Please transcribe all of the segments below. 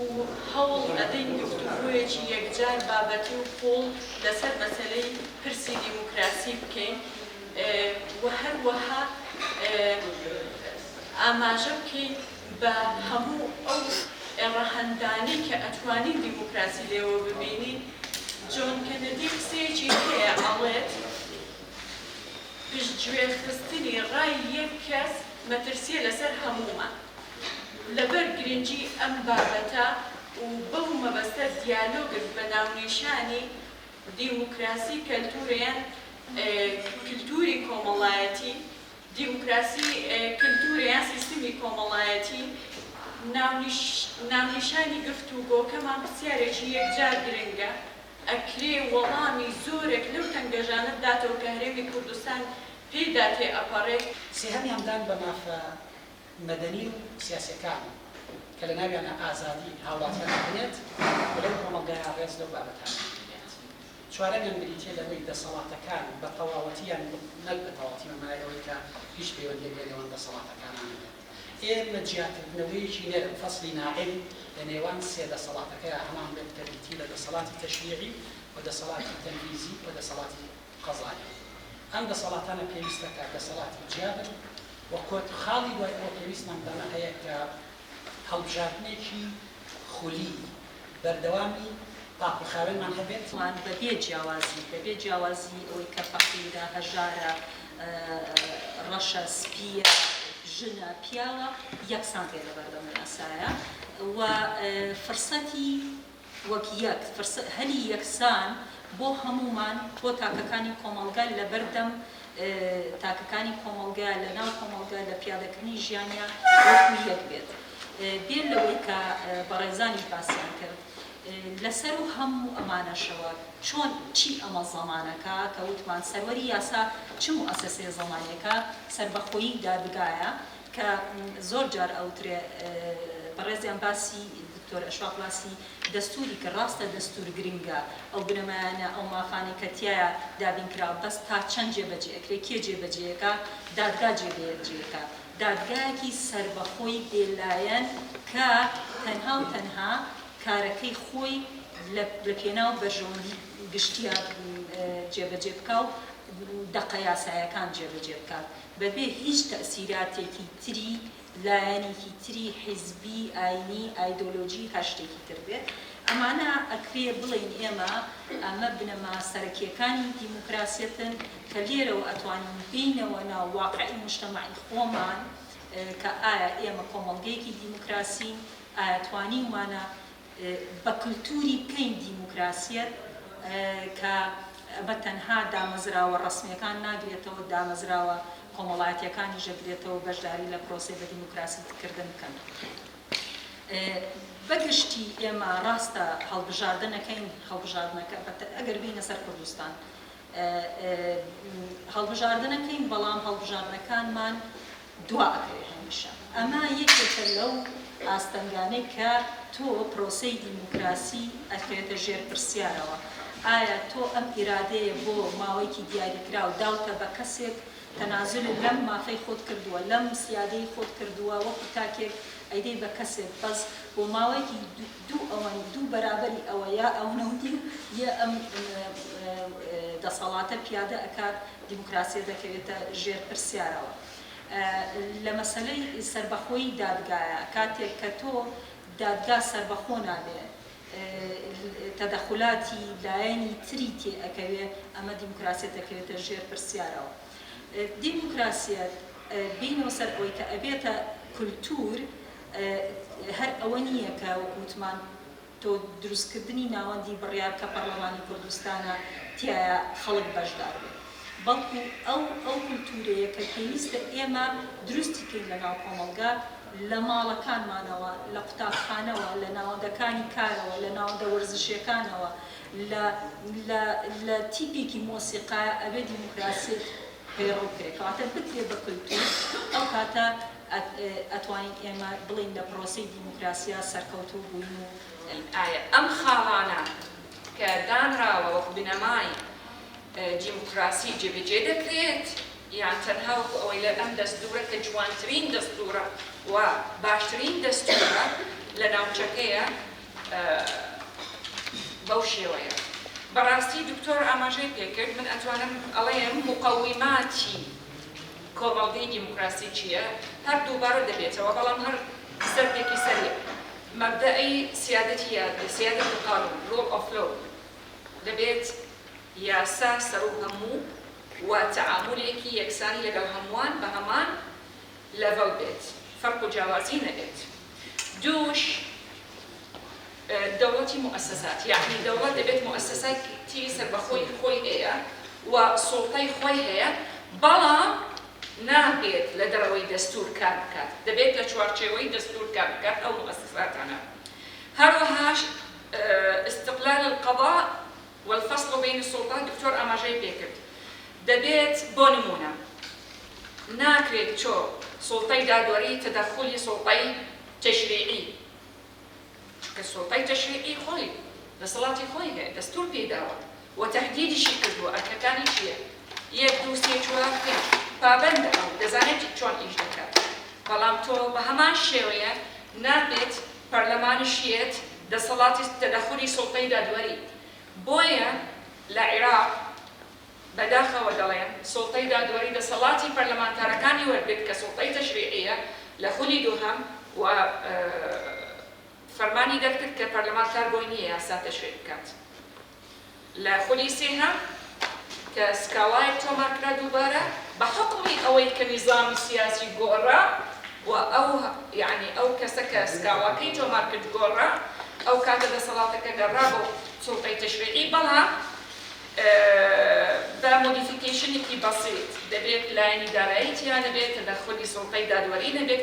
و هەوڵ ئەدەین گفتوگۆیەکی یەکجار بابەتی و قووڵ لەسەر مەسەلەی پرسی دیموکراسی بکەین و هەروەها ئاماژە بکەین بە هەموو ئەو ڕەهەندانەی کە ئەتوانین دیموکراسی لێوە ببینین جۆن کەنەدی قسەیەکی هەیە ئەڵێت پشتگوێخستنی ڕای یەک کەس مەترسییە لەسەر هەموومان. لەبەر گرنگی ئەم بابەتە و بەو مەبەستە دیالۆگت بە ناونیشانی دیموکراسی کەلتوورە یان کلتووری کۆمەڵایەتی، دیموکراسی کلتوورە یان سیستمی کۆمەڵایەتی، ناونیشانی گفتوگۆکەمان پرسیارێکی یەکجار گرنگە، ئەکرێ وەڵامی زۆرێک لەو تەنگەژانە بداتەوە کە هەرێمی کوردستان پێیدا تێئەپەڕێت. سێهەمیان دان بە مافە مەدەنی و سیاسیەکان کە لە ناویانا ئازادی هاوڵاتیان دەبنێت و لەو کۆمەڵگایە ڕێز لەو بابەتانە بگیرێت. چوارەمیان بریتیە لەوەی دەسەڵاتەکان بە تەواوەتی یان نەک بە تەواوەتی بە مانای ئەوەی کە هیچ پەیوەندیەک لە نێوان دەسەڵاتەکانا نەبێت. ئێمە جیاکردنەوەیەکی نەرم، فصل ناعم، لە نێوان سێ دەسەڵاتەکەیا هەمان بێت کە بریتی لە دەسەڵاتی تەشریعی و دەسەڵاتی تەنفیزی و دەسەڵاتی قەزانەوە. ئەم دەسەڵاتانە پێویستە کە دەسەڵاتی جیا بن و کۆت خاڵی دوای ئەوە پێویستمان بەمە هەیە کە هەڵبژاردنێکی خولی بەردەوامی پاک و خاوێنمان هەبێت. وان بەبێ جیاوازی، بەبێ جیاوازی ئەوەی کە فەقیرە، هەژارە، ڕەشە، سپییە، ژنە، پیاوە، یەکسان بێ لەبەردەم یاسایە و فرسەتی وەک یەک فرسە هەلی یەکسان بۆ هەموومان بۆ تاکەکانی کۆمەڵگە لە بەردەم تاکەکانی کۆمەڵگە لە ناو کۆمەڵگە لە پیادەکردنی ژیانیان وەکو یەک بێت بێ لەوەی کە بەڕێزانیش باسیان کرد لەسەر و هەموو ئەمانەشەوە چۆن چی ئەمە زەمانەکە کە وتمان سەروەری یاسا چ موئەسەسەیە زەمانیەکە سەربەخۆیی دادگایە کە زۆر جار ئەوترێ بەڕێزیان باسی دکتۆر ئەشواق باسی دەستوری کە ڕاستە دەستور گرنگە ئەو بنەمایانە ئەو مافانەی کە تیایا دابین کراوە بەس تا چەند جێ بەجێ ئەکرێ کێ جێ بەجێ ئەکا دادگا جێ بەجێ ئەکا دادگایەکی سەربەخۆی بێ لایەن کە تەنها و تەنها کارەکەی خۆی لە پێناو بەرژەوەندی گشتیا جێ بەجێ بکا و دەقە یاسایەکان جێ بەجێ بکات بەبێ هیچ تەئسیراتێکی تری لایەنێکی تری حیزبی، ئاینی، ئایدۆلۆژی هەر شتێکی تر بێت. ئەمانە ئەکرێ بڵێین ئێمە ئەمە بنەما سەرەکیەکانی دیموکراسیەتن کە لێرەوە ئەتوانین بێینەوە ناو واقعی موجتەمەعی خۆمان کە ئایا ئێمە کۆمەڵگەیەکی دیموکراسین؟ ئایا توانیومانە بە کلتوری پێی دیموکراسیەت کە بە تەنها دامەزراوە ڕەسمیەکان ناگرێتەوە، دامەزراوە کۆمەڵایەتیەکانیش دەگرێتەوە بەشداری لە پرۆسەی بە دیموکراسیت کردن بکەن. بە گشتی ئێمە ڕاستە هەڵبژاردنەکەین، هەڵبژاردنەکە ئەگەر بێینە سەر کوردستان، هەڵبژاردنەکەین بەڵام هەڵبژاردنەکانمان دوا ئەکەوێت هەمیشە ئەمە یەکێکە لەو ئاستەنگانەی کە تۆ پرۆسەی دیموکراسی ئەخەوێتە ژێر پرسیارەوە ئایا تۆ ئەم ئیرادەیە بۆ ماوەیەکی دیاریکراو داوتە بە کەسێک تەنازول لەم مافەی خۆت کردووە لەم سیادەی خۆت کردووە وەکو تاکێک ئەیدەی بە کەسێک بەس بۆ ماوەیەکی دوو ئەوەن، دوو بەرابەری ئەوە یا ئەونە و نیم، یە ئەم دەسەڵاتە پیادە ئەکات، دیموکراسیە دەکەوێتە ژێر پرسیارەوە. لە مەسەلەی سەربەخۆیی دادگایە، کاتێک کە تۆ دادگا سەربەخۆ نابێ، تەدەخولاتی لایەنی تری تێ ئەکەوێ، ئەمە دیموکراسیە دەکەوێتە ژێر پرسیارەوە. دیموکراسیەت بینەوە سەر ئەوەی کە ئەبێتە کولتوور هەر ئەوە نییە کە وەکو وتمان تۆ دروست کردنی ناوەندی بڕیار کە پەڕلەمانی کوردستانە تیایا خەڵک بەشدار بێت بەڵکو ئەو ئەو کولتوورەیە کە پێویستە ئێمە دروستی کەین لە ناو کۆمەڵگا لە ماڵەکانمانەوە لە قوتابخانەوە لە ناوەندەکانی کارەوە لە ناوەندە وەرزشیەکانەوە لە لە لە تیپێکی مۆسیقایە ئەبێ دیموکراسیت پەیڕەو بکرێ کەواتە بکرێ بە کلتور ئەو کاتە ئەتوانین ئێمە بڵێین لە پرۆسەی دیموکراسیا سەرکەوتوو بووین و ئایا ئەم خاڵانە کە دانراوە وەک بنەمای دیموکراسی جێبەجێ دەکرێت یان تەنها وەکو ئەوەی لە ئەم دەستورە کە جوانترین دەستورە و باشترین دەستورە لە ناوچەکەیە؟ بەو شێوەیە بەڕاستی دکتۆر ئاماژەی پێکرد من ئەتوانم ئەڵێم مقەویماتی کۆمەڵگەی دیموکراسی چیە هەر دووبارە دەبێتەوە بەڵام هەر سەردێکی سەری مەبدەئی سیادەتی یادگە سیادەت القانون Rule of Law دەبێت یاسا سەروو هەموو و تەعامولێکی یەکسانی لەگەڵ هەمووان بەهەمان لەڤەڵ بێت فەرق و جیاوازی نەبێت دووش دەوڵەتی موئەسەسات یەعنی دەوڵەت دەبێت موئەسەساتی سەربەخۆی خۆی هەیە و سوڵتەی خۆی هەیە بەڵام نابێت لە دەرەوەی دەستور کار بکات دەبێت لە چوارچێوەی دەستور کار بکات ئەو موئەسەساتانە هەروەهاش استقلال القضاء والفصل بین السلطە دکتۆر ئاماژەی پێکرد دەبێت بۆ نموونە ناکرێت چۆ سوڵتەی دادوەری تەدەخولی سوڵتەی تەشریعی چونکە سوڵتەی تەشریعی خۆی دەسەڵاتی خۆی هەیە دەستور پێی داوە و تەهدیدیشی کردووە ئەرکەکانی چییە یەک دوو سێ چوار پێنج پابەندە ئەو دەزانێت چۆن ئیش دەکات بەڵام تۆ بەهەمان شێوەیە نابێت پەرلەمانی شیعەت دەسەڵاتی تەدەخولی سوڵتەی دادوەری بۆیە لە عیراق بەداخەوە دەڵێن سوڵتەی دادوەری دەسەڵاتی پەرلەمانتارەکانی وەرگرت کە سوڵتەی تەشریعیە لە خولی دووهەم و فەرمانی دەرکرد کە پەرلەمان کار بۆی نیە یاسا تەشریع بکات. لە خولی سێهەم کە سکاڵایەک تۆمارکرا دووبارە بە حوکمی ئەوەی کە نیزامی سیاسی گۆڕا و ئەو یەعنی ئەو کەسە کە سکاڵاکەی تۆمارکرد گۆڕا ئەو کاتە دەسەڵاتەکە گەڕا بۆ سوڵتەی تەشریعی بەڵام بە مۆدیفیکەیشنێکی بەسیط دەبێت لایەنی دارایی تیا نەبێت تەدەخولی سوڵتەی دادوەری نەبێت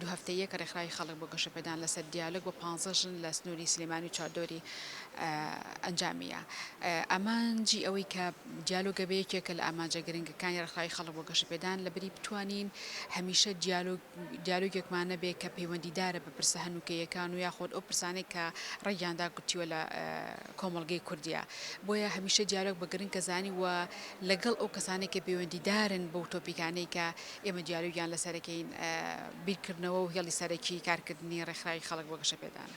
دوو هەفتەییە کە رێکخراوی خەڵک بۆ گەشەپێدان لەسەر دیالۆگ بۆ پانزە ژن لە سنووری سلێمانی و چواردەوری ئەنجامیە. ئامانجی ئەوەی کە دیالۆگە بێ یەکێکە لە ئامانجە گرنگەکانی رێکخراوی خەڵک بۆ گەشەپێدان لە بری بتوانین هەمیشە دیالۆگ دیالۆگێکمان نەبێ کە پەیوەندیدارە بە پرسە هەنووکەییەکان و یاخود ئەو پرسانەی کە رەنگیان داکوتیوە لە کۆمەڵگەی کوردیا. بۆیە هەمیشە دیالۆگ بە گرنکە زانی و لەگەڵ ئەو کەسانەی کە پەیوەندیدارن بەو تۆپیکانەی کە ئێمە دیاری و گیان لەسەرەکەین بیرکردنەوە و هێڵی سەرەکی کارکردنی ڕێکخراوی خەڵک بۆ گەشەپێدانە.